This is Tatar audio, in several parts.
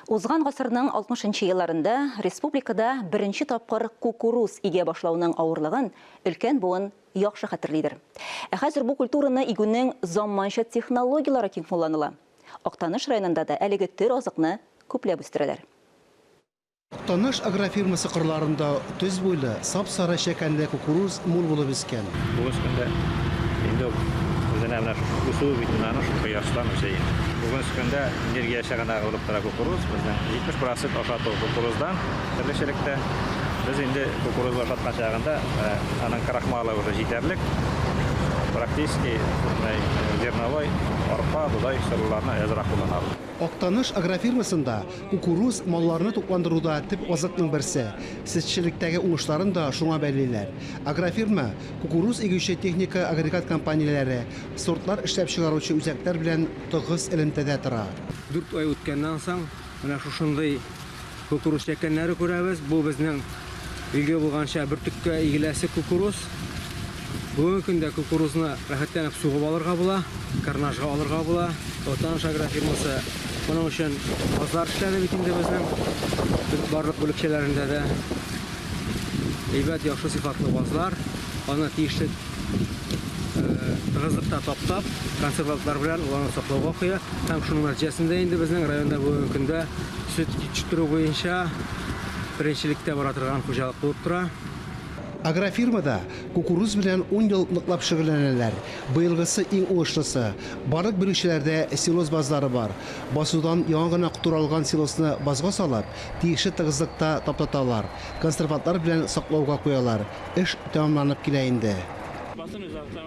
Узган гасырның алтмышынчы елларында республикада беренче тапкыр кукуруз игә башлауның авырлыгын өлкән буын яхшы хәтерлидер. Ә хәзер бу культураны игүнең заманча технологияләре киң кулланыла. Актаныш районында да әлеге төр азыкны күпләп үстерәләр. Таныш агрофирмасы кырларында төз буйлы, сап-сары чәкәнле кукуруз мул булып үскән. Бугыз көндә инде ул үзенә менә шушы үсүе бит менә аның шушы кояштан үсә инде. Бугыз көндә энергия чыганагы булып тора кукуруз. Безнең 70 процент ашату кукуруздан, терлекчелектә. Без инде кукурузы ашаткан чагында аның крахмалы уже җитәрлек. Практически бөтенләй зерновой, арпа, бодай соруларны әзрак кулланабыз. Актаныш агрофирмасында Кукуруз малларны тукландыруда төп азыкның берсе. Сөтчелектәге уңышларын да шуңа бәйлиләр. Агрофирма, кукуруз игүче техника-агрегат компанияләре, сортлар эшләп чыгаручы үзәкләр белән тыгыз элемтәдә тора. Дүрт ай үткәннән соң, менә шушындый кукуруз чәкәннәре күрәбез. Бу безнең Билгеле булганча, бөртеккә игеләсе кукуруз. Бүгенге көндә кукурузны рәхәтләнеп сугып алырга була, карнажга алырга була. Ватаныш агрофирмасы моның өчен базлар эшләде бит инде безнең барлык бүлекчәләрендә дә. Әйбәт, яхшы сыйфатлы базлар. Аны тиешле тыгызлыкта таптап, консервантлар белән уларны саклауга куя. Һәм шуның нәтиҗәсендә инде безнең районда бүгенге көндә сөт җиткерү буенча беренчелектә бара торган хуҗалык булып тора. Агрофирмада кукуруз белән ун ел ныклап шөгыльләнәләр. Быелгысы иң уңышлысы. Барлык бирүчеләрдә силоз базлары бар. Басудан яңа гына туралган силосны базга салып, тиешле тыгызлыкта таптаталар, консервантлар белән саклауга куялар. Эш тәмамланып килә инде.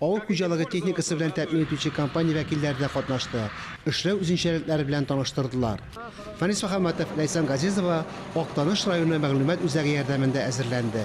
Авыл хуҗалыгы техникасы белән тәэмин итүче компания вәкилләре дә катнашты, эшләү үзенчәлекләре белән таныштырдылар. Фәнис Мөхәммәтов, Ләйсән Газизова Актаныш районы мәгълүмат үзәге ярдәмендә әзерләнде.